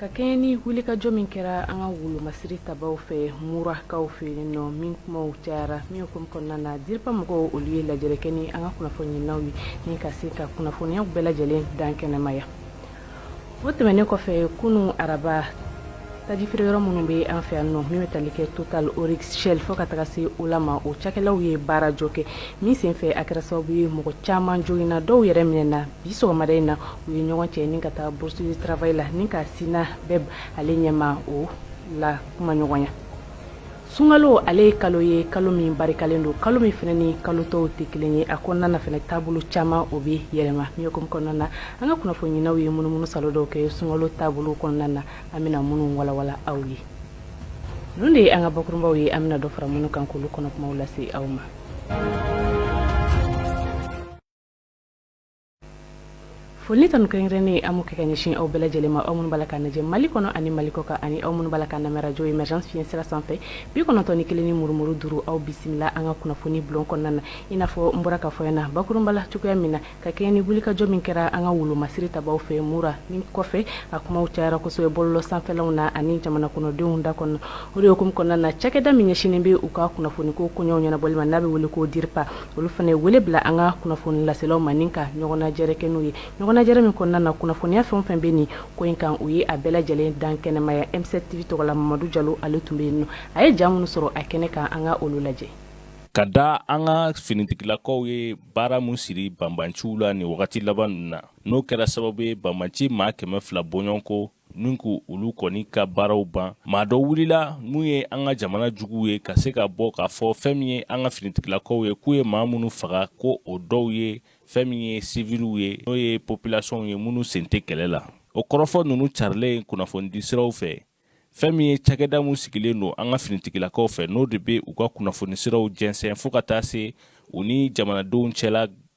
ka kɛɲɛ ni wulikajɔ min kɛra an ka wolomasiri tabaaw fɛ murakaw fɛ yen nɔ min kumaw cayara min hukumu kɔnɔna na DIRPA mɔgɔw olu ye lajɛrɛ kɛ ni an ka kunnafoniɲinaw ye ni ka se ka kunnafoniyaw bɛɛ lajɛlen dan kɛnɛmaya o tɛmɛnen kɔfɛ kunun araba tajifeere yɔrɔ minnu bɛ an fɛ yan nɔ min bɛ tali kɛ Total Oryx Shell fo ka taga se Ola ma o cakɛlaw ye baarajɔ kɛ min senfɛ a kɛra sababu ye mɔgɔ caman joginna dɔw yɛrɛ minɛna bi sɔgɔmada in na u ye ɲɔgɔn cɛ ni ka taa bourse du travail la ni ka SYNABEF ale ɲɛmaaw lakumaɲɔgɔnya sunkalo ale ye kalo ye kalo min barikalen don kalo min fana ni kalo tɔw tɛ kelen ye a kɔnɔna na fana taabolo caman o bɛ yɛlɛma min hukumu kɔnɔna na an ka kunnafoniɲinaw ye munumunu saalo dɔw kɛ sunkalo taabolo kɔnɔna na an bɛna minnu walawala aw ye ninnu de ye an ka bakurunbaw ye an bɛna dɔ fara minnu kan k'olu kɔnɔ kumaw lase aw ma foli ni tanu kɛrɛnkɛrɛnnen an b'o kɛ ka ɲɛsin aw bɛɛ lajɛlen ma aw minnu b'a la k'an lajɛ Mali kɔnɔ ani Mali kɔkan ani aw minnu b'a la k'an lamɛn radio Emergence fiɲɛ sira sanfɛ bi kɔnɔntɔn ni kelen ni murumuru duuru aw bisimila an ka kunnafoni bulon kɔnɔna na i n'a fɔ n bɔra k'a fɔ aw ɲɛna bakurunba la cogoya min na ka kɛɲɛ ni wulikajɔ min kɛra an ka wolomasiri tabaaw fɛ Mura min kɔfɛ a kumaw cayara kosɛbɛ bɔlɔlɔ sanfɛlaw na ani jamana kɔnɔdenw da kɔnɔ o de hukumu kɔnɔna na cakɛda min ɲɛsinnen bɛ u ka kunnafoniko koɲɛw ɲɛnabɔli ma n'a bɛ wele ko DIRPA olu fana ye wele bila an ka kunnafoni laselaw ma ni ka ɲɔgɔnnajɛrɛ kɛ n'u ye ɲɔgɔnnajɛrɛ min kɔnɔna na kunnafoniya fɛn o fɛn bɛ nin ko in kan u ye a bɛɛ lajɛlen dan kɛnɛmaya M7 TV tɔgɔ la mamadu jalo ale tun bɛ yen nɔ a ye ja minnu sɔrɔ a kɛnɛ kan an ka olu lajɛ ka da an ka finitigilakaw ye baara min siri banbanciw la nin wagati laban ninnu na n'o kɛra sababu ye banbanci maa kɛmɛ fila bɔɲɔgɔnko Nin ko olu kɔni ka baaraw ban maa dɔ wulila n'u ye an ka jamana juguw ye ka se ka bɔ k'a fɔ fɛn min ye an ka finitigilakaw ye k'u ye maa minnu faga ko o dɔw ye fɛn min ye siviliw ye n'o ye populasɔnw ye minnu sen tɛ kɛlɛ la o kɔrɔfɔ ninnu carilen kunnafonidi siraw fɛ fɛn min ye cakɛda min sigilen don an ka finitigilakaw fɛ n'o de bɛ u ka kunnafoni siraw jɛnsɛn fo ka taa se u ni jamanadenw cɛla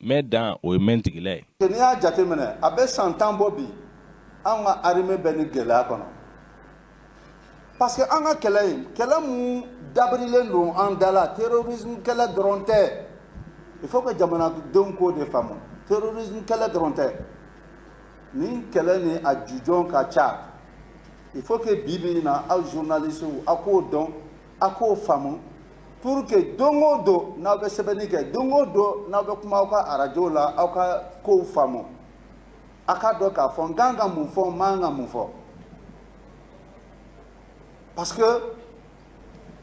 mɛ dan o ye mɛntigila ye n'i y'a jateminɛ a bɛ san tan bɔ bi an ka armée bɛ nin gɛlɛya kɔnɔ parce que an ka kɛlɛ in kɛlɛ min dabirilen don an da la terrorisme kɛlɛ dɔrɔn tɛ il faut que jamanadenw k'o de faamu terrorisme kɛlɛ dɔrɔn tɛ nin kɛlɛ nin a jujɔn ka ca il faut que bi bi in na aw journalistew aw k'o dɔn a k'o faamu pour que don o don n'aw bɛ sɛbɛnni kɛ don o don n'aw bɛ kuma aw ka arajow la aw ka kow faamu a k'a dɔn k'a fɔ n kan ka mun fɔ n man ka mun fɔ parce que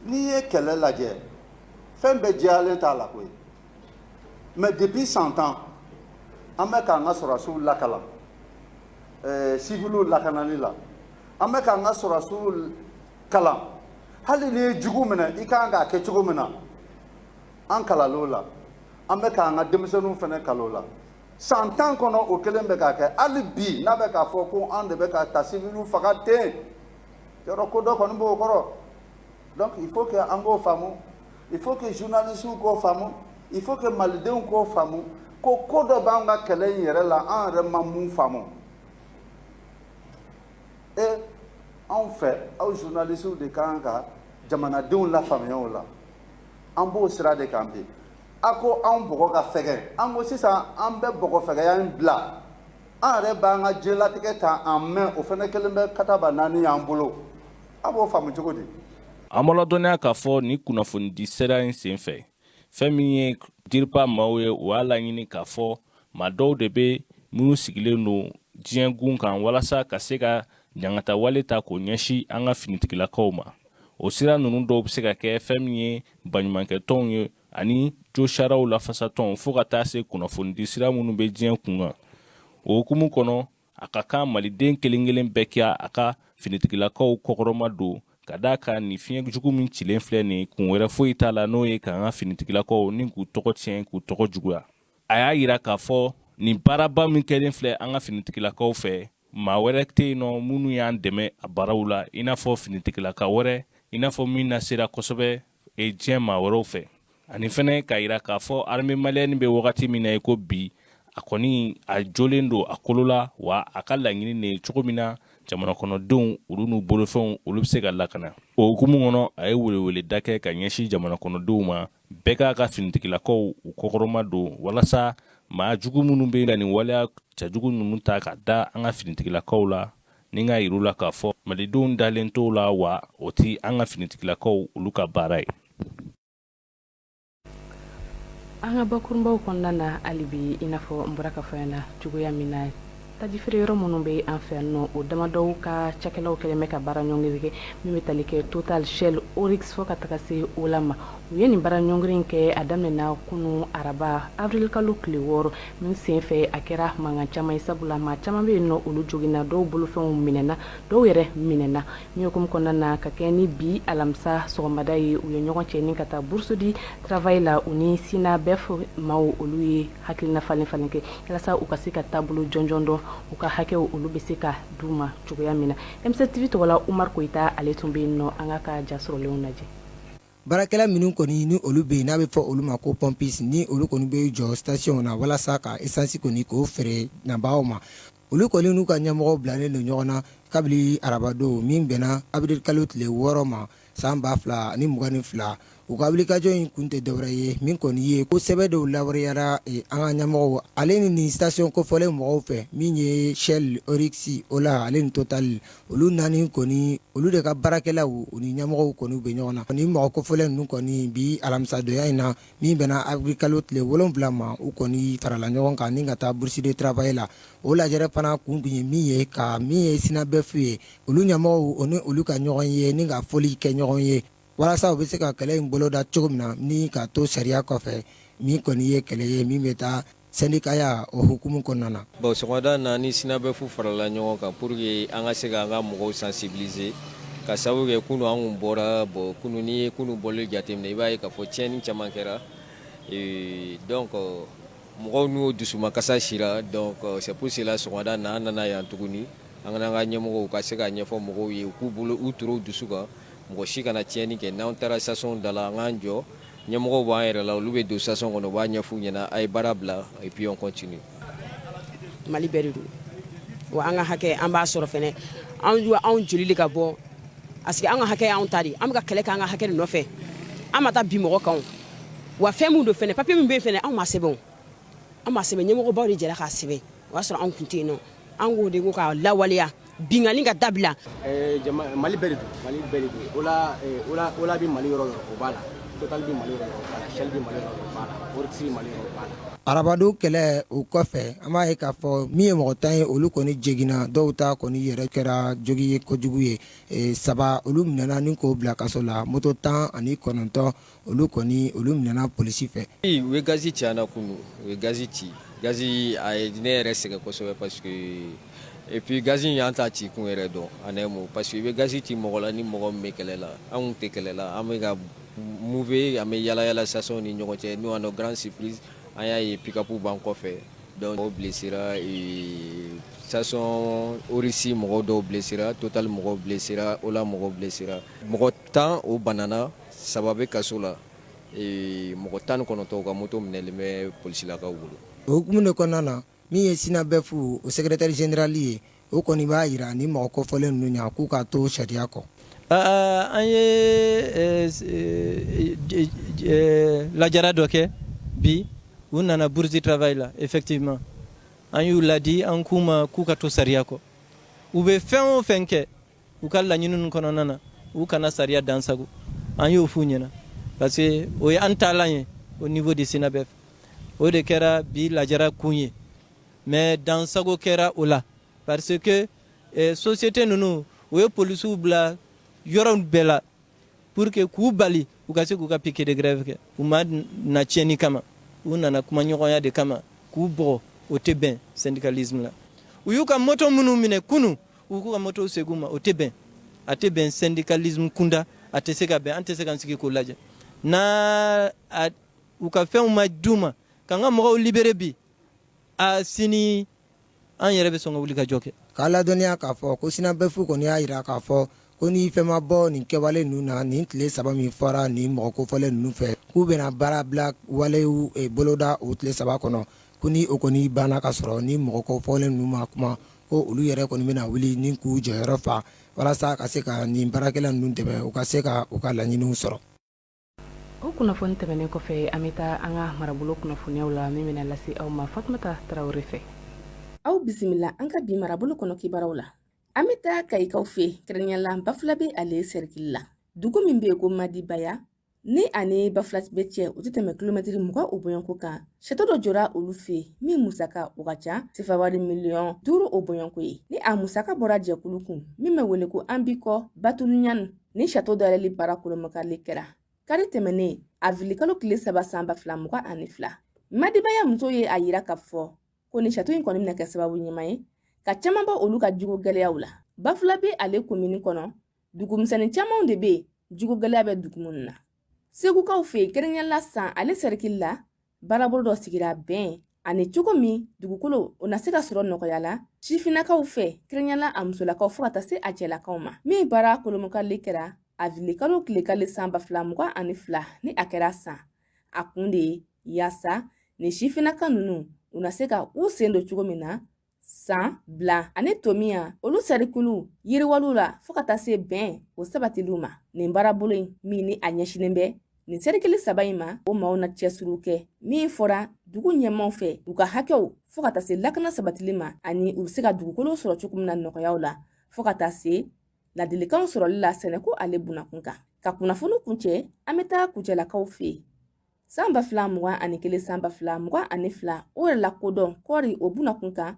n'i ye kɛlɛ lajɛ fɛn bɛɛ jɛyalen t'a la koyi mais depuis san tan an bɛ k'an ka sɔrɔdasiw lakalan ɛɛ siviliw lakanali la an bɛ k'an ka sɔrɔdasiw kalan hali n'i ye jugu minɛ i ka kan k'a kɛ cogo min na an kalanna o la an bɛ k'an ka denmisɛnninw fana kalan o la san tan kɔnɔ o kelen bɛ k'a kɛ hali bi n'a bɛ k'a fɔ ko an de bɛ ka taa siviliw faga ten yɔrɔ ko dɔ kɔni b'o kɔrɔ donc il faut que an k'o faamu il faut que journalistes k'o faamu il faut que malidenw k'o faamu ko ko dɔ b'an ka kɛlɛ in yɛrɛ la an yɛrɛ ma mun faamu Ee anw fɛ aw journalistes de ka kan ka jamanadenw lafaamuya o la, an b'o sira de kan bi, a ko anw bɔgɔ ka fɛgɛn, an ko sisan an bɛ bɔgɔfɛgɛya in bila, an yɛrɛ b'an ka diɲɛlatigɛ ta en main o fana kɛlen bɛ kataba naani y'an bolo, a b'o faamu cogo di? An b'aw ladɔnniya k'a fɔ nin kunnafonidi sira in senfɛ, fɛn min ye DIRPA maaw ye u y'a laɲini k'a fɔ maa dɔw de bɛ minnu sigilen don diɲɛ gun kan walasa ka se ka ɲangata wale ta k'o ɲɛsin an ka finitigilakaw ma o sira ninnu dɔw bɛ se ka kɛ fɛn min ye baɲumankɛtɔnw ye ani josariyaw lafasatɔnw fo ka taa se kunnafonidi sira minnu bɛ diɲɛ kun kan o hukumu kɔnɔ a ka kan maliden kelen kelen bɛɛ kɛ a ka finitigilakaw kɔkɔrɔma don ka d'a kan nin fiɲɛ jugu min cilen filɛ nin kun wɛrɛ foyi t'a la n'o ye k'an ka finitigilakaw ni k'u tɔgɔ tiɲɛ k'u tɔgɔ juguya a y'a yira k'a fɔ nin baaraba min kɛlen filɛ an ka finitigilakaw fɛ maa wɛrɛ tɛ yen nɔ minnu y'an dɛmɛ a baaraw la i n'a fɔ finitigilaka wɛrɛ i n'a fɔ min lasera kosɛbɛ e diɲɛ maa wɛrɛw fɛ ani fana k'a yira k'a fɔ armée malienne bɛ wagati min na i ko bi a kɔni a jolen don a kolo la wa a ka laɲini de ye cogo min na jamanakɔnɔdenw olu n'u bolofɛnw olu bɛ se ka lakana o hukumu kɔnɔ a ye weleweleda kɛ ka ɲɛsin jamanakɔnɔdenw ma bɛɛ k'a ka finitigilakaw u kɔkɔrɔma don walasa maa jugu minnu bɛ ka nin waleya cɛjugu ninnu ta ka da an ka finitigilakaw la ni k'a yir'u la k'a fɔ malidenw dalen t'o la wa o tɛ an ka finitigilakaw olu ka baara ye an ka bakurunbaw kɔnɔna na hali bi i n'a fɔ an bɔra k'a fɔ yan na cogoya min na tajifeereyɔrɔ minnu bɛ an fɛ yan nɔ o damadɔw ka cakɛlaw kɛlen bɛ ka baara ɲɔngiri kɛ min bɛ tali kɛ Total Shell Oryx fo ka taga se Ola ma u ye nin baara ɲɔngiri kɛ a daminɛna kunun araba awirilikalo tile wɔɔrɔ Min senfɛ a kɛra mankan caman ye sabula maa caman bɛ yen nɔ olu joginna dɔw bolofɛnw minɛna dɔw yɛrɛ minɛna min hukumu kɔnɔna na ka kɛɲɛ ni bi alamisa sɔgɔmada ye u ye ɲɔgɔn cɛ ni ka taa bourse du travail la u ni sinabɛf maaw olu ye hakilina falen-falen kɛ walasa u ka se ka taabolo jɔnjɔn dɔn u ka hakɛw olu bɛ se ka d'u ma cogoya min na M7 TV tɔgɔ la umar koyita ale tun bɛ yen nɔ an k'a ka ja sɔrɔlenw lajɛ Baarakɛla minnu kɔni ni olu bɛ yen n'a bɛ fɔ olu ma ko pompiste ni olu kɔni bɛ jɔ station na walasa ka essence kɔni k'o feere nabaaw ma olu kɔni n'u ka ɲɛmɔgɔw bilalen don ɲɔgɔn na kabini arabadon min bɛnna avril kalo tile wɔɔrɔ ma san ba fila ni mugan ni fila u ka wulikajɔ in kun tɛ dɔwɛrɛ ye min kɔni ye ko sɛbɛn dɔw lawaleyara an ka ɲɛmɔgɔw ale ni nin station kofɔlen mɔgɔw fɛ min ye shell orix ola ale ni totali olu naani kɔni olu de ka baarakɛlaw u ni ɲɛmɔgɔw kɔni bɛ ɲɔgɔn na ni mɔgɔ kofɔlen ninnu kɔni bi alamisadonya in na min bɛnna avril kalo tile wolonwula ma u kɔni farala ɲɔgɔn kan ni ka taa bourse du travail la o lajɛrɛ fana kun tun ye min ye ka min ye sinabɛf ye olu ɲɛmɔgɔw ni olu ka ɲɔgɔn ye ni ka foli kɛ ɲɔgɔn ye walasa u bɛ se ka kɛlɛ in boloda cogo min na ni ka to sariya kɔfɛ min kɔni ye kɛlɛ ye min bɛ taa sɛndikaya o hukumu kɔnɔna na bon sɔgɔmada na ni sinabɛf farala ɲɔgɔn kan pour que an ka se ka an ka mɔgɔw sensibiliser k'a sababu kɛ kunu an kun bɔra bon kunu n'i ye kunu bɔli jateminɛ i b'a ye k'a fɔ tiɲɛni caman kɛra euh, donc mɔgɔw n'u dusumakasa sira donc c'est pour cela sɔgɔmada na an nana yan tuguni an ka ɲɛmɔgɔw ka se k'a ɲɛfɔ mɔgɔw ye u k'u bolo u turu dusu kan mɔgɔ si kana tiɲɛni kɛ n'an taara station da la an k'an jɔ ɲɛmɔgɔw b'an yɛrɛ la olu bɛ don station kɔnɔ u b'a ɲɛf'u ɲɛna a ye baara bila et puis on continue mali bɛɛ de don wa an ka hakɛ an b'a sɔrɔ fɛnɛ an wa anw joli de ka bɔ parce que an ka hakɛ y'anw ta de ye. an bɛ ka kɛlɛ kɛ an ka hakɛ de nɔfɛ an ma taa bin mɔgɔ kan o. wa fɛn min don fɛnɛ papiye min bɛ yen fɛnɛ anw m'a sɛbɛn o. an m'a sɛbɛn ɲɛmɔgɔbaw de jɛra k'a sɛbɛn o y'a sɔrɔ anw tun tɛ yen nɔ an k'o de ko k'a lawaleya binkanni ka dabila eh, mali bɛɛ de don mali bɛɛ de don ola eh, ola ola bɛ mali yɔrɔ yɔrɔ o b'a la total bɛ mali yɔrɔ yɔrɔ o b'a la shell bɛ mali yɔrɔ yɔrɔ o b'a la orix bɛ mali yɔrɔ o b'a la arabadon kɛlɛ o kɔfɛ an b'a ye k'a fɔ min ye mɔgɔ tan ye olu kɔni joginna dɔw ta kɔni yɛrɛ kɛra jogin ye kojugu ye eh, saba olu minɛna ni k'u bila kaso la moto tan ani kɔnɔntɔn olu kɔni olu minɛna polisi fɛ u ye gazi ci an na kunu u ye gazi ci gazi a ye ne yɛrɛ sɛgɛn kosɛbɛ parce que et puis gazi in an t'a ci kun yɛrɛ dɔn en un mot parce que i bɛ gazi ci mɔgɔ la ni mɔgɔ bɛ kɛlɛ la anw tɛ kɛlɛ la an bɛ ka mouver an bɛ yaalayaala stationw ni ɲɔgɔn cɛ nous à notre grande surprise an y'a ye pick-up b'an kɔfɛ dɔw blesséra station orix mɔgɔ dɔw blesséra totali mɔgɔw blesséra ola mɔgɔw blesséra mɔgɔ tan o banana saba bɛ kaso la ee, mɔgɔ tan ni kɔnɔntɔn ka moto minɛlen bɛ polisilakaw bolo o hukumu de kɔnɔna na min ye sinabɛfu o secrétaire général ye o kɔni b'a yira ni mɔgɔ kofɔlen ninnu ɲɛ k'u ka to sariya kɔ Aa, an ye eh, s- eh, j- j- eh, lajara dɔ kɛ bi u nana bourse du travail la effectivement an y'u ladi an k'u ma k'u ka to sariya kɔ u bɛ fɛn o fɛn kɛ u ka laɲini kɔnɔna na u kana sariya dansago an y'o f'u ɲɛna parce que o ye an taalan ye au niveau de sinabɛfu o de kɛra bi lajara kun ye mais dansago kɛra o la parce que eh, société ninnu u ye polisiw bila yɔrɔ bɛɛ la pour que k'u bali u ka se k'u ka piquet de grève kɛ u ma na tiɲɛni kama u nana kumaɲɔgɔnya de kama k'u bɔgɔ o tɛ bɛn syndicalisme la u y'u ka moto minnu minɛ kunu u k'u ka motow segin u ma o tɛ bɛn a tɛ bɛn syndicalisme kunda a tɛ se ka bɛn an tɛ se k'an sigi k'o lajɛ n'u ka fɛnw ma d'u ma k'an ka mɔgɔw libérer bi a sini an yɛrɛ bɛ sɔn ka wulikajɔ kɛ k'a ladɔnniya k'a fɔ ko sinabɛfu kɔni y'a yira k'a fɔ ko ni fɛn ma bɔ nin kɛwale ninnu na nin tile saba min fɔra nin mɔgɔ kofɔlen ninnu fɛ k'u bɛna baarabila walew eh, boloda o tile saba kɔnɔ ko ni o kɔni banna ka sɔrɔ ni mɔgɔ kofɔlen ninnu ma kuma ko olu yɛrɛ kɔni bɛna wuli ni k'u jɔyɔrɔ fa walasa ka se ka nin baarakɛla ninnu dɛmɛ u ka se ka u ka laɲiniw sɔrɔ o kunnafoni tɛmɛnen kɔfɛ an bɛ taa an ka marabolo kunnafoniyaw la min bɛna lase aw ma fatumata tarawele fɛ aw bisimila an ka bi marabolo kɔnɔ kibaruyaw la an bɛ taa kayikaw fɛ kɛrɛnkɛrɛnnenya la bafulabɛ ale sɛrikili la dugu min bɛ yen ko madibaya ni ani bafulabɛ cɛ u tɛ tɛmɛ kilomɛtiri mugan o bɔɲɔgɔnko kan sato dɔ jɔra olu fɛ min musaka o ka ca sefawari miliyɔn duuru o bɔɲɔgɔnko ye ni a musaka bɔra jɛkulu kun min bɛ wele ko an bi kɔ batuluɲani Ni sato dayɛlɛli baara kurunbonkarili kɛra kari tɛmɛnen awirilikalo tile saba san ba fila mugan ani fila madibaya musow ye a yira k'a fɔ ko ni sato in kɔni bɛna kɛ sababu ɲuman ye ka caman bɔ olu ka jiko gɛlɛyaw la bafulabɛ ale komini kɔnɔ dugumisɛnnin camanw de bɛ jiko gɛlɛya bɛ dugu minnu na segukaw fɛ yen kɛrɛnkɛrɛnnenya la san ale sɛrikili la baarabolo dɔ sigira bɛn ani cogo min dugukolo o na se ka sɔrɔ nɔgɔya la sifinnakaw fɛ kɛrɛnkɛrɛnnenya la a musolakaw fo ka taa se a cɛlakaw ma min baara kurunbonkarili kɛra awirilikalo tile kelen san ba fila mugan ani fila ni a kɛra san a kun de ye yaasa nin sifinnaka nunu u na se ka u sen don cogo min na san bila ani tomiya olu serikiliw yiriwaliw la fɔɔ ka taa se bɛn o sabatiliw ma nin baarabolo in min ni a ɲɛsinen bɛ nin serikili saba in ma o maaw na cɛsiriw kɛ min fɔra dugu ɲɛmaaw fɛ u ka hakɛw fɔɔ ka taa se lakana sabatili ma ani u be se ka dugukolo sɔrɔ cogo min na nɔgɔyaw la fɔɔ ka taa se ladilikanw sɔrɔli la sɛnɛko ale bunakun kan ka kunnafoni kuncɛ an be taa kucalakaw fɛ San ba fila mugan ani kelen san ba fila mugan ani fila o yɛrɛlakodɔn kɔɔri o buna kun kan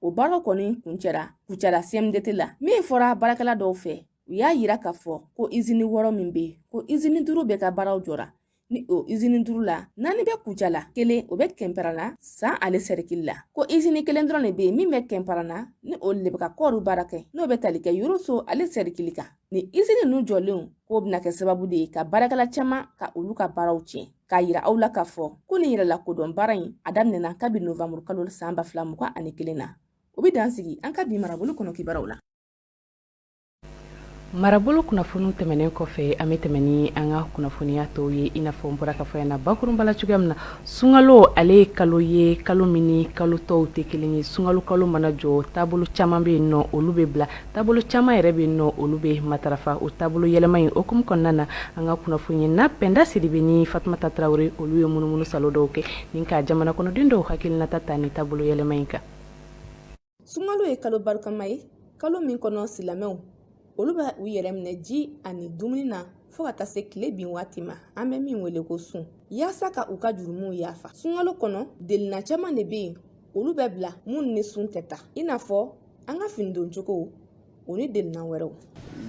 o baaraw kɔni kuncɛra kucala cmdt la min fɔra baarakɛla dɔw fɛ u y'a yira k'a fɔ ko izini wɔɔrɔ min bɛ yen ko izini duuru bɛɛ ka baaraw jɔra ni o izini duuru la naani bɛ kucala kelen o bɛ kɛnparana san ale sɛrikili la ko izini kelen dɔrɔn de bɛ yen min bɛ kɛnparana ni o le bɛ ka kɔɔri baara kɛ n'o bɛ tali kɛ yoroso ale sɛrikili kan ni izini ninnu jɔlenw k'o bɛna kɛ sababu de ye ka baarakɛla caman ka olu ka baaraw tiɲɛ k'a yira aw la k'a fɔ ko nin yɛrɛlakodɔn baara in a daminɛna kabi novanburu kalo san ba fila mugan ani kelen na o bɛ dan sigi an ka bi marabolo kɔnɔ kibaruw la marabolo kunnafoniw tɛmɛnen kɔfɛ an bɛ tɛmɛ ni an ka kunnafoniya tɔw ye i n'a fɔ n bɔra k'a fɔ na bakurunba la cogoya min na sunkalo ale ye kalo ye kalo min ni kalo tɔw tɛ kelen ye sunkalo kalo mana jɔ taabolo caman bɛ yen n'olu bɛ bila taabolo caman yɛrɛ bɛ yen n'olu bɛ matarafa o taabolo yɛlɛma in o hukumu kɔnɔna na an ka kunnafonina pɛnda sidibe ni fatumata tarawele olu ye munumunusaalo dɔw kɛ ni ka jamanakɔnɔden dɔw hakililata ta nin taabolo yɛlɛma in kan sunkalo ye kalo barikama ye kalo min kɔnɔ silamɛw olu bɛ u yɛrɛ minɛ ji ani dumuni na fɔɔ ka taa se tile bin waati ma an bɛ min wele ko sun yaasa ka u ka jurumuw yaafa sunkalo kɔnɔ delina caaman de be yen olu bɛ bila minnu ni sun tɛ taa i n'a fɔ an ka fini don cogo o ni delina wɛrɛw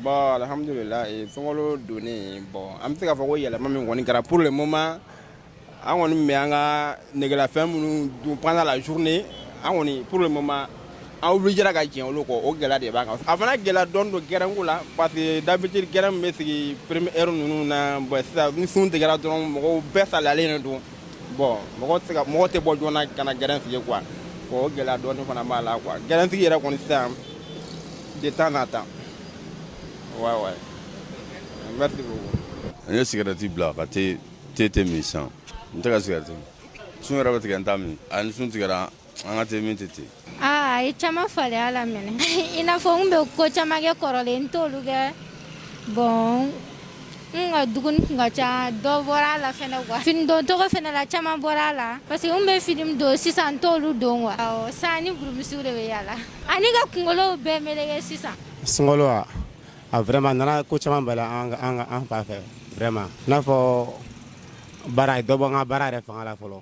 bon alhamdulila sunkalo donnen bon an bɛ se k'a fɔ ko yɛlɛma min kɔni kɛra pour le moment an kɔni bɛ an ka negelafɛn minnu dun pendant la journée an kɔni pour le moment an obligera ka jɛn olu kɔ o gɛlɛya de b'an kan a fana gɛlɛya dɔɔni don gɛrɛnko la parce que d'habitude gɛrɛn min bɛ sigi première heure ninnu na bon sisan ni sun tigɛra dɔrɔn mɔgɔw bɛɛ salayalen de don bon mɔgɔ tɛ ka mɔgɔ tɛ bɔ joona ka na gɛrɛn sigi quoi o gɛlɛya dɔɔni fana b'a la quoi gɛrɛn sigi yɛrɛ kɔni sisan de temps en temps ouais ouais merci beaucoup n ye sigarɛti bila ka te te tɛ min sisan n tɛ ka sigarɛti sun yɛrɛ bɛ tigɛ n t'a min a ni sun tigɛra an ka te min tɛ ten aa a ye caman falen a la minɛ i n'a fɔ n bɛ ko caman kɛ kɔrɔlen n t'olu kɛ bon n ka dumuni tun ka ca dɔ bɔra a la fana quoi fini don cogo fana la caman bɔra a la parce que n bɛ fini min don sisan n t'olu don quoi san ni burumusiw de bɛ yaala ani ka kunkolow bɛɛ meleke sisan sunkalo wa a vraiment nana ko caman bɔ a la an ka- an ka- an fan fɛ vraiment i n'a fɔ baara dɔ bɔ an ka baara yɛrɛ fanga la fɔlɔ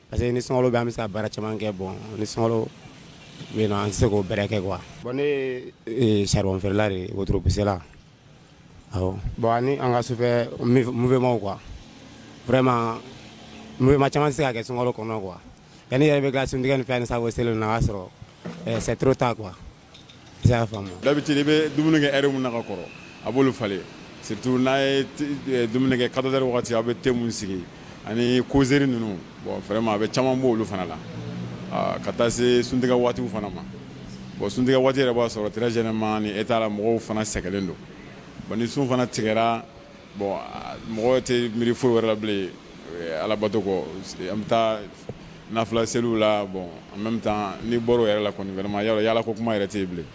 parce que ni sunkalo bɛ an bɛ se ka baara caman kɛ bon ni sunkalo bɛ yen nɔ an tɛ se k'o bɛrɛ kɛ quoi bon ne ye charbon feerela de ye wotoro pusela awɔ bon ani an ka sufɛ mouvement quoi vraiment mouvement caman tɛ se ka kɛ sunkalo kɔnɔ quoi yanni i yɛrɛ bɛ tila suntigɛ ni fɛn ni safo seli ninnu na o y'a sɔrɔ c'est trop tard quoi I y'a faamu d'habitude i bɛ dumuni kɛ heure min na ka kɔrɔ a b'olu falen surtout n'a ye dumuni kɛ quatorze heures waati a bɛ thé min sigi ani causerie ninnu bon vraiment a bɛ caman bɔ olu fana la ka taa se suntigɛ waati fana ma bon suntigɛ waati yɛrɛ b'a sɔrɔ très généralement nin état la mɔgɔw fana sɛgɛnlen don bon ni sun fana tigɛra bon mɔgɔ tɛ miiri foyi wɛrɛ la bilen alabato kɔ an bɛ taa Nafila seliw la bon en même temps n'i bɔra o yɛrɛ la kɔni vraiment yaala ko kuma yɛrɛ tɛ yen bilen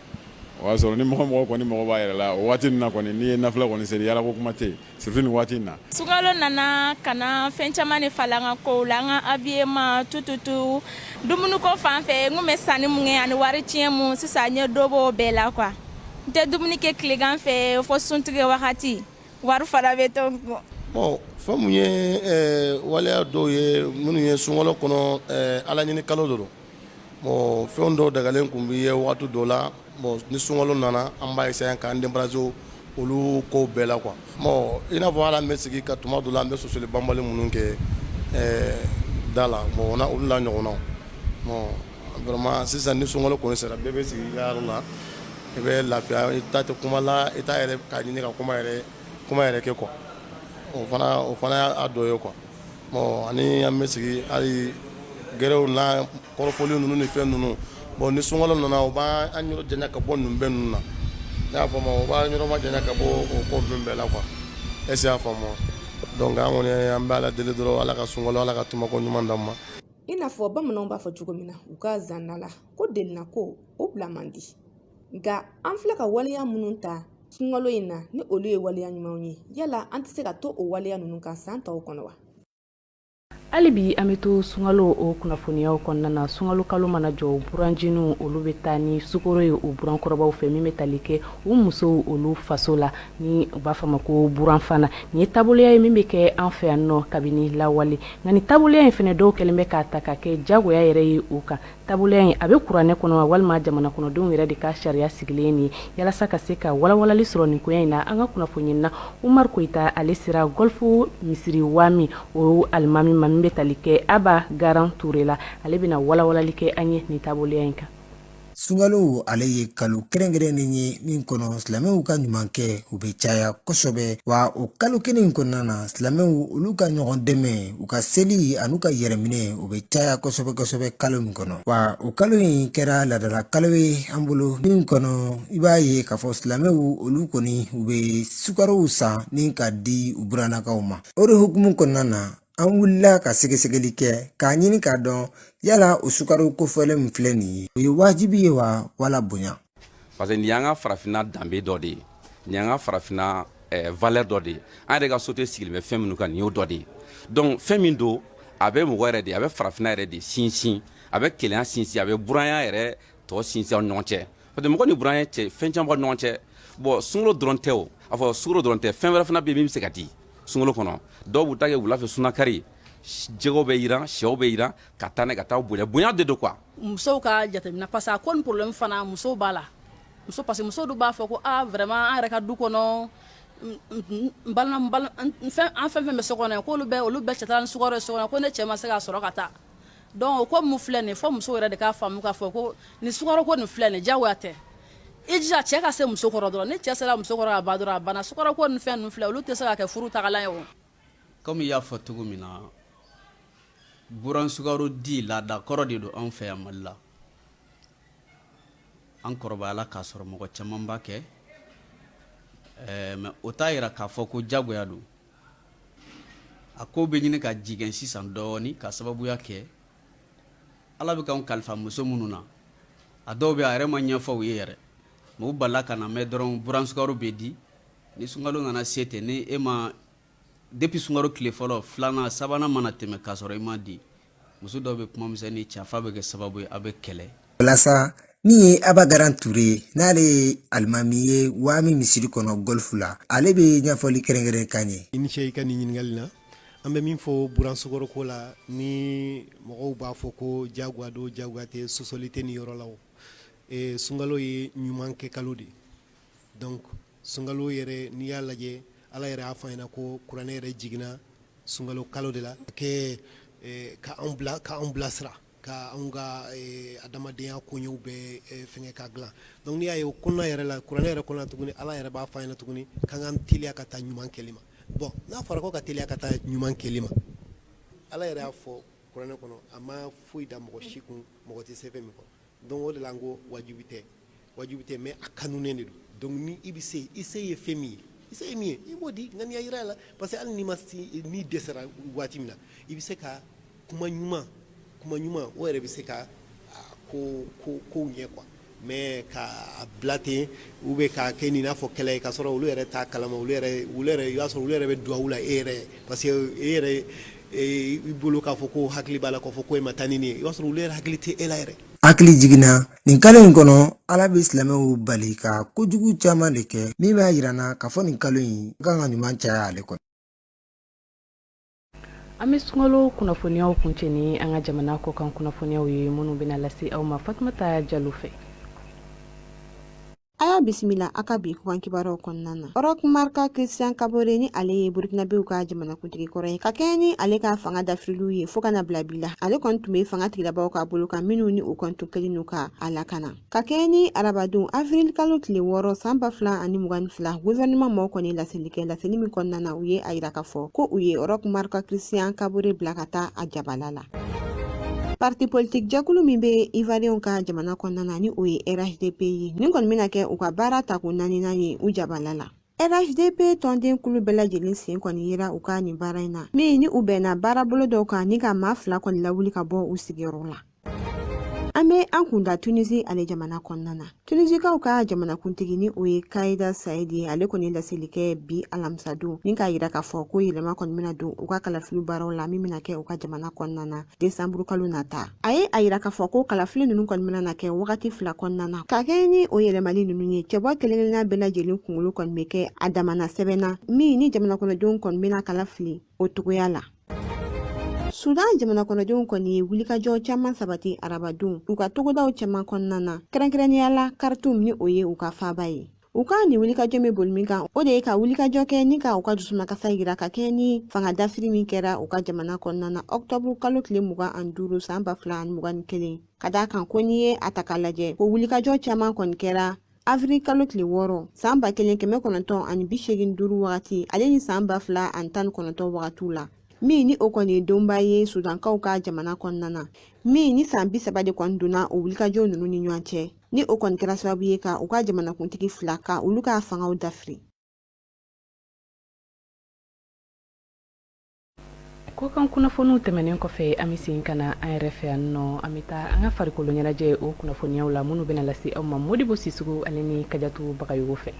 o y'a sɔrɔ ni mɔgɔ mɔgɔ kɔni mɔgɔ b'a yɛrɛ la o waati ninnu na kɔni n'i ye nafila kɔni seli yaala ko kuma tɛ surtout nin waati in na sunkalo nana ka na fɛn caman de falen an ka kow la an ka habillement tout tout tout dumuniko fan fɛ n tun bɛ sanni min kɛ ani wari tiɲɛ minnu sisan n ye dɔ bɔ o bɛɛ la quoi n tɛ dumuni kɛ tilegan fɛ fo suntigɛ wagati wari fana bɛ to bon fɛn min ye waleya dɔw ye minnu ye sunkalo kɔnɔ ala ɲini kalo de don bon fɛn dɔw dagalen tun b'i ye waati dɔ la bon ni sunkalo nana an b'a essayer k'an débarrasser olu kow bɛɛ la quoi i n'a fɔ ala an bɛ sigi ka tuma dɔ la an bɛ sɔsɔli banbali minnu kɛ da la bon olu la ɲɔgɔnna vraiment sisan ni sunkalo kɔni sera bɛɛ bɛ sigi i ka yɔrɔ la i bɛ lafiya i ta tɛ kuma la i t'a yɛrɛ k'a ɲini ka kuma yɛrɛ kɛ quoi o fana y'a dɔ ye quoi bon ani an bɛ sigi hali gɛrɛw na kɔrɔfɔli ninnu ni fɛn ninnu bon ni sunkalo nana o b'an yɔrɔ janya ka bɔ ninnu bɛɛ ninnu na i y'a faamu o b'an yɔrɔmajanya ka bɔ o ko ninnu bɛɛ la quoi est-ce que i y'a faamu donc an kɔni an bɛ ala deli dɔrɔn ala ka sunkalo ala k'a tɛmɛko ɲuman d'an ma i n'a fɔ bamananw b'a fɔ cogo min na u ka zana la ko delina ko o bila man di nka an filɛ ka waleya minnu ta sunkalo in na ni olu ye waleya ɲumanw ye yala an tɛ se ka to o waleya ninnu kan san tɔw kɔnɔ wa hali bi an bɛ to sunkalo o kunnafoniyaw kɔnɔna na sunkalo kalo mana jɔ buranjiniw olu bɛ taa ni sukoro ye u burankɔrɔbaw fɛ min bɛ tali kɛ u musow olu faso la ni u b'a fɔ ma ko buranfana nin ye taaboloya ye min bɛ kɛ an fɛ yan nɔ kabini lawale nka nin taaboloya in fana dɔw kɛlen bɛ k'a ta ka kɛ jagoya yɛrɛ ye u kan Taaboloya in a bɛ kuranɛ kɔnɔ wa walima jamana kɔnɔdenw yɛrɛ de ka sariya sigilen ye nin yalasa ka se ka walawalali sɔrɔ nin koya in na an ka kunnafonina Umar Koyita ale sera Gɔlfu misiri Wami o alimami ma min bɛ tali kɛ Aba Garan Ture la ale bɛna walawalali kɛ an ye nin taaboloya in kan sunkalo ale ye kalo kɛrɛnkɛrɛnnen ye min kɔnɔ silamɛw ka ɲumankɛ o bɛ caya kosɛbɛ wa o kalo kelen in kɔnɔna na silamɛw olu ka ɲɔgɔn dɛmɛ u ka seli an'u ka yɛrɛminɛ u bɛ caya kosɛbɛ kosɛbɛ kalo min kɔnɔ wa o kalo in kɛra ladala kalo ye an bolo min kɔnɔ i b'a ye k'a fɔ silamɛw olu kɔni u bɛ sukarow san ni ka di u burannakaw ma o de hukumu kɔnɔna na an wulila ka sɛgɛsɛgɛli kɛ k'a ɲini k'a dɔn yala o sukaro kofɔlen min filɛ nin ye o ye wajibi ye wa wala bonya parce que nin y'an ka farafinna danbe dɔ de ye nin y'an ka farafinna eh, valeur dɔ de ye an yɛrɛ ka société sigilen bɛ fɛn minnu kan nin y'o dɔ de ye donc fɛn min don a bɛ mɔgɔ yɛrɛ de a bɛ farafinna yɛrɛ de sinsin a bɛ kelenya sinsin a bɛ buranya yɛrɛ tɔ sinsin aw ni ɲɔgɔn cɛ parce que mɔgɔ ni buranya cɛ fɛn caman b'aw ni ɲɔgɔn cɛ bon sunkalo dɔrɔn tɛ o a fɔ sukaro dɔrɔn tɛ fɛn wɛrɛ fana bɛ yen min bɛ se ka di sunkalo kɔnɔ dɔw b'u ta kɛ wula fɛ sunakari jɛgɛw bɛ yiran sɛw bɛ yiran ka taa ne ka taa bonya bonya de don quoi musow ka jateminɛ parce que a ko ni problème fana musow b'a la muso parce que muso dun b'a fɔ ko ah vraiment an yɛrɛ ka du kɔnɔ n balima n balima n fɛn an fɛn fɛn bɛ so kɔnɔ yan k'olu bɛɛ olu bɛɛ cɛ taara ni sukaro ye so kɔnɔ ko ne cɛ ma se ka sɔrɔ ka taa donc o ko min filɛ nin ye fo muso yɛrɛ de k'a faamu k'a fɔ ko nin sukaro ko nin filɛ nin ye diyagoya tɛ i jija cɛ ka se muso kɔrɔ dɔrɔn ni cɛ sera muso kɔrɔ ka ban dɔrɔn a banna sukaro ko ni fɛn ninnu filɛ olu tɛ se ka kɛ furu tagalan ye o Kɔmi i y'a fɔ cogo min na buran sukaro di laada kɔrɔ de don anw fɛ yan mali la an kɔrɔbayala k'a sɔrɔ mɔgɔ caman b'a kɛ mɛ o t'a yira k'a fɔ ko jagoya don a ko bɛ ɲini ka jɛngɛn sisan dɔɔnin ka sababuya kɛ ala bɛ k'an kalifa muso minnu na a dɔw bɛ a yɛrɛ ma ɲɛfɔ u ye yɛrɛ mɛ u balala ka na mɛn dɔrɔn buran sukaro bɛ di Ni sunkalo nana se ten ni e ma depuis sunkalo tile fɔlɔ filanan sabanan mana tɛmɛ k'a sɔrɔ i ma di muso dɔw bɛ kuma misɛnnin cɛ f'a bɛ kɛ sababu ye a bɛ kɛlɛ walasa min ye Aba Garan Ture ye n'ale ye alimami ye Wami misiri kɔnɔ Golfu la ale bɛ ɲɛfɔli kɛrɛnkɛrɛn k'an ye i ni ce i ka nin ɲininkali la an bɛ min fɔ buran sukaro ko la ni mɔgɔw b'a fɔ ko jagoya don jagoya tɛ sɔsɔli tɛ nin yɔrɔ la sunkalo ye ɲuman kɛ kalo de ye donc sunkalo yɛrɛ n'i y'a lajɛ Ala yɛrɛ y'a fɔ an ɲɛna ko kuranɛ yɛrɛ jiginna sunkalo kalo de la ka kɛ ka anw bila ka anw bilasira ka anw ka adamadenya koɲɛw bɛɛ fɛngɛ ka dilan donc n'i y'a ye o kɔnɔna yɛrɛ la kuranɛ yɛrɛ kɔnɔna tuguni Ala yɛrɛ b'a fɔ an ɲɛna tuguni k'an k'an teliya ka taa ɲuman kɛli ma bon n'a fɔra ko ka teliya ka taa ɲuman kɛli ma Ala yɛrɛ y'a fɔ kuranɛ kɔnɔ a ma foyi da mɔgɔ si kun mɔgɔ tɛ se fɛn min kɔrɔ Donc o de la n ko wajibi tɛ wajibi tɛ mɛ a kanunen de don donc ni i bɛ se i se ye fɛn min ye i se ye min ye i b'o di ŋaniya yira a la parce que hali n'i ma n'i dɛsɛra waati min na i bɛ se ka kuma ɲuman kuma ɲuman o yɛrɛ bɛ se ka kow ɲɛ quoi mɛ ka bila ten ou bien k'a kɛ nin n'a fɔ kɛlɛ ye k'a sɔrɔ olu yɛrɛ t'a kalama i b'a sɔrɔ olu yɛrɛ bɛ duwawu la e yɛrɛ parce que e yɛrɛ i bolo k'a fɔ ko hakili b'a la k'a fɔ ko e ma taa ni nin ye i b'a sɔrɔ olu yɛrɛ hakili tɛ e la yɛrɛ hakili jiginna nin kalo in kɔnɔ ala bɛ silamɛw bali ka kojugu caman de kɛ min b'a yira an na k'a fɔ nin kalo in kan ka ɲuman caya ale kɔnɔ an bɛ sunkalo kunnafoniyaw kuncɛ ni an ka jamana kɔkan kunnafoniyaw ye minnu bɛna lase aw ma fatumata jalo fɛ A y'a bisimila a ka bi kɔkan kibaruw kɔnɔna na. Roch Marc Christian Kabore ni ale ye Burukinabew ka jamanakuntigi kɔrɔ ye. Ka kɛɲɛ ni ale ka fanga dafirili ye fo ka na bila bi la, ale kɔni tun bɛ fanga tigilabaaw ka bolo kan minnu ni u kɔni tun kɛlen don ka a lakana. Ka kɛɲɛ ni arabadon avril kalo tile wɔɔrɔ san ba fila ani mugan ni fila, gouvernement mɔgɔw kɔni ye laseli kɛ, laseli min kɔnɔna na u ye a yira k'a fɔ ko u ye Roch Marc Christian Kabore bila ka taa a jabala la. Parti politique jɛkulu min bɛ Ivoiriyɛnw ka jamana kɔnɔna na ni o ye RHDP ye nin kɔni bɛna kɛ u ka baara tako naaninan ye u jabala la. RHDP tɔnden kulu bɛɛ lajɛlen sen kɔni yera u ka nin baara in na min ni u bɛnna baarabolo dɔw kan ni ka maa fila kɔni lawuli ka bɔ u sigiyɔrɔ la. An bɛ an kun da Tunisie ale jamana kɔnɔna na. Tunisikaw ka jamanakuntigi ni o ye Kayida Sayidi ye ale kɔni ye laseli kɛ bi alamisadon ni k'a yira k'a fɔ ko yɛlɛma kɔni bɛna don u ka kalafili baaraw la min bɛna kɛ u ka jamana kɔnɔna na desanburu kalo nata a ye a yira k'a fɔ ko kalafili ninnu kɔni bɛna na kɛ wagati fila kɔnɔna na ka kɛɲɛ ni o yɛlɛmali ninnu ye cɛbɔ kelenkelenna bɛɛ lajɛlen kunkolo kɔni bɛ kɛ a damana sɛbɛn na min ni jamanakɔnɔdenw kɔni bɛna kala fili o togoya la Sudan jamana kɔnɔdenw kɔni ye wulikajɔ caman sabati arabadon u ka togodaw caman kɔnɔna na kɛrɛnkɛrɛnnenya la Kartum ni o ye u ka faaba ye u ka nin wulikajɔ bɛ boli min kan o de ye ka wulikajɔ kɛ ni ka u ka dusumakasa yira ka kɛɲɛ ni fanga dafiri min kɛra u ka jamana kɔnɔna na ɔkutɔburu kalo tile mugan ani duuru san ba fila ani mugan ni kelen ka d'a kan ko n'i ye a ta k'a lajɛ ko wulikajɔ caman kɔni kɛra Avril kalo tile wɔɔrɔ san ba kelen kɛmɛ kɔnɔntɔn ani bi seegin duuru wagati ale ni san ba fila ani tan ni kɔnɔntɔn wagatiw la min ni o kɔni ye donba ye sudankaw ka jamana kɔnɔna na min ni san bi saba de kɔni donna o wulikajɔ ninnu ni ɲɔgɔn cɛ ni o kɔni kɛra sababu ye ka u ka jamanakuntigi fila ka olu ka fangaw dafiri kɔkan kunnafoniw tɛmɛnen kɔfɛ an bɛ segin ka na an yɛrɛ fɛ yan nɔ an bɛ taa an ka farikolo ɲɛnajɛ o kunnafoniyaw la minnu bɛna lase aw ma modibo sisogo ale ni kajatu bagayogo fɛ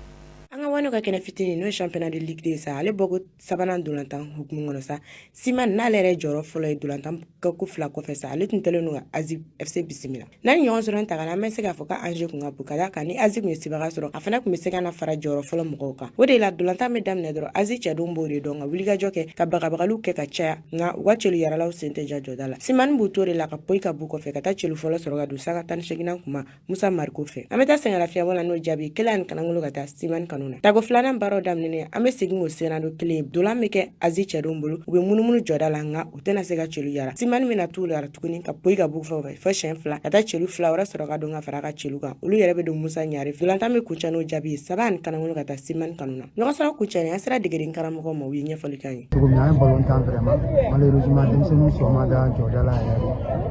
an ka wani ka kɛnɛ fitinin n'o ye championnat de ligue deux sa ale bɔko sabanan ntolatan hukumu kɔnɔ sa siman n'ale yɛrɛ jɔyɔrɔ fɔlɔ ye ntolatan ko fila kɔfɛ sa ale tun kɛlen don ka azi fc bisimila N'an ye ɲɔgɔn sɔrɔ in ta kan an bɛ se k'a fɔ ka enjeu kun ka bon ka d'a kan ni azi kun ye sebaga sɔrɔ a fana kun bɛ se ka na fara jɔyɔrɔ fɔlɔ mɔgɔw kan o de la dolantan bɛ daminɛ dɔrɔn azi cɛdenw b'o de dɔn ka wulikajɔ kɛ ka bagabagaliw kɛ ka caya nka u ka celu yaralaw sen tɛ ja jɔda la simani b'u to de la ka poyi ka b'u kɔfɛ ka taa celu fɔlɔ sɔrɔ ka don sanga tan ni seginan kuma musa mariko fɛ an bɛ taa sɛngɛlafiɲɛbɔ la n'o jaabi kelen ani kanangolo ka taa simani kanu na tago filanan baaraw daminɛnen an bɛ segin o senna don kelen dolan bɛ kɛ azi cɛdenw bolo u bɛ munumunu jɔda la nka u tɛna se ka celu yara simani bɛna tila tuguni ka poyi ka b'u kɔfɛ fo siɲɛ fila ka taa celu fila wɛrɛ sɔrɔ ka don ka fara ka celu kan olu yɛrɛ bɛ don musa ɲare fɛ dolantan bɛ kuncɛ n'o jaabi ye saba ani kanangolo ka taa simani kanu na ɲɔgɔn sɔrɔ kuncɛni an sera degeden karamɔgɔw ma u ye ɲɛfɔli k'an ye cogo min an ye balon tan vraiment malheureusement denmisɛnninw sɔn ma da jɔda la yɛrɛ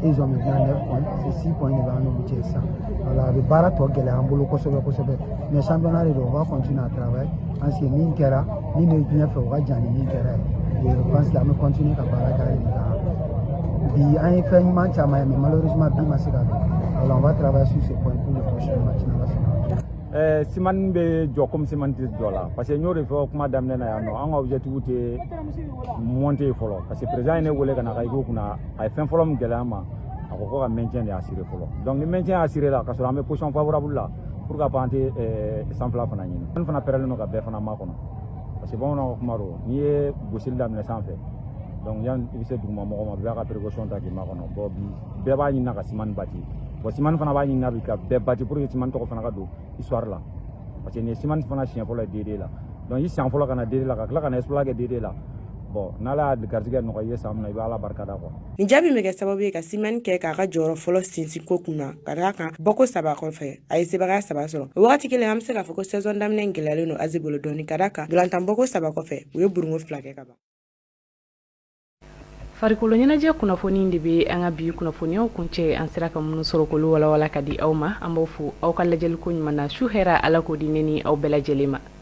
Ils ont maintenant 9 points, c'est 6 points de b'an n'olu cɛ sisan voilà a bɛ baara tɔ gɛlɛya an bolo kosɛbɛ kosɛbɛ mais championnat de don on va continuer à travailler parce que min kɛra min bɛ ɲɛfɛ o ka jan ni min kɛra ye et je pense que an bɛ continuer ka baara kɛ hali ka bi an ye fɛn ɲuman caman ye mais malheureusement bi ma se ka don voilà on va travailler sur ce point pour le prochain match n'ala sɔnna ɛɛ simani bɛ joie komi simani tɛ joie la parce que n y'o de fɔ kuma daminɛ na yan nɔ an ka objectif tɛ monter fɔlɔ parce que président ye ne wele ka na ka i ko kunna a ye fɛn fɔlɔ min gɛlɛya an ma a ko ko ka maintien de assurer fɔlɔ donc ni maintien assurer la ka sɔrɔ an bɛ position favorable la pour ka pan tɛ eh, sanfɛla fana ɲini an fana pɛrɛlen don ka bɛɛ fana makɔnɔ parce que bamananw ka kuma don n'i ye gosili daminɛ san fɛ donc yan i bɛ se duguma mɔgɔ ma bɛɛ ka précaution ta k'i makɔnɔ bon bi bɛɛ b'a ɲinina ka simani bati bon simani fana b'a ɲinina bi ka bɛɛ bati pour que simani tɔgɔ fana ka don histoire la parce que nin ye simani fana siɲɛ fɔlɔ ye D2 la donc i siɲɛ fɔlɔ ka na D2 la ka tila ka na exploit kɛ D2 la n'ala y'a garijɛgɛ nɔgɔya i ye san min na i bɛ ala barika da quoi nin jaabi bɛ kɛ sababu ye ka simani kɛ k'a ka jɔyɔrɔ fɔlɔ sinsin ko kun na ka d'a kan bɔko saba kɔfɛ a ye sebagaya saba sɔrɔ o wagati kelen an bɛ se k'a fɔ ko sɛzɔn daminɛ in gɛlɛyalen don azi bolo dɔɔni ka d'a kan dolantan bɔko saba kɔfɛ u ye burungo fila kɛ ka ban farikolo ɲɛnajɛ kunnafoni de bɛ an ka bi kunnafoniyaw kuncɛ an sera ka minnu sɔrɔ k'olu walawala ka di aw ma an b'aw fo aw ka lajɛliko ɲuman na su hɛra ala k'o di ne ni aw bɛɛ lajɛlen ma